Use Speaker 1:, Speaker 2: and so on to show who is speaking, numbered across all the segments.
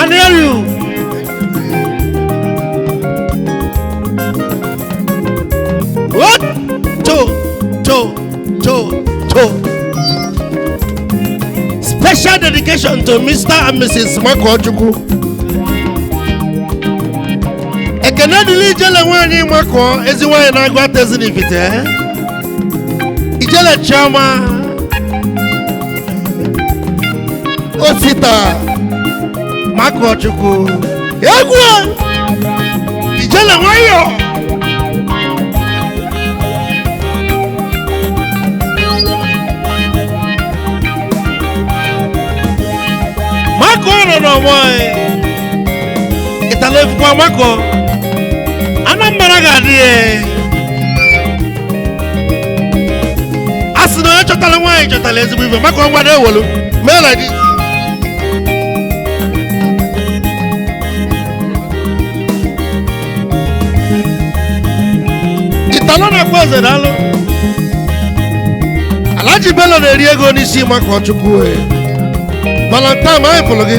Speaker 1: anụ elu What? To, to, to, to. Special dedication to Mr. and Mrs. Makọchukwu. Ekene dịlị ijele nwaanyị Mako ezi nwaanyị n'Aguata Ezinifite. ijele chioma osita makọchukwu egwu ijele nwayọ mako nọ n'ọgbọ ịtala efukwa mako anambra ga-adị ya a sị na onye chọtalụ nwaanyị chọtalụ ezigbo ife maka ọnwa na-ewelu mee na gị italo na-akpọ eze na alụ alaji belo na-eri ego n'isi makọchukwu valentine anyị pụlụ gị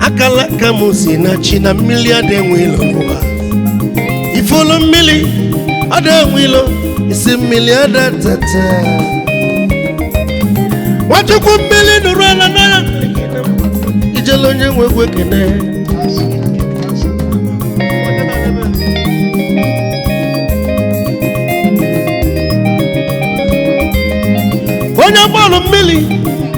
Speaker 1: akala aka m si na chi na mmili ada enwe ilo n'ụwa ifulu mmili ada enwe ilo isi mmili ada ata ata nwachukwu mmili nụrụ ala n'anya ijele onye nwe egwu ekene onye bọọlụ mmili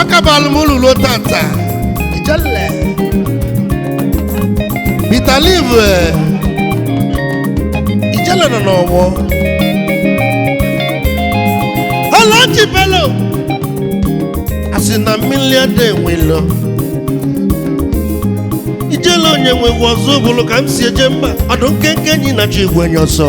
Speaker 1: akabalụ m ụlọ ruo taata ijele Peter Liv eh, ijele nọ n'ọgbọ alaji belo a sị na mmili ada enwe ilo ijele onye nwe egwu ọzọ bụlụ ka m si eje mba ọdụ nkenke enyi na-achụ igwe enyi ọsọ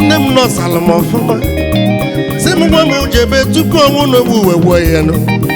Speaker 1: nne m nọsara m ọfụma sị m gwa m jebe tupu ọnwụ n'ogbu uwe gwọ ya nụ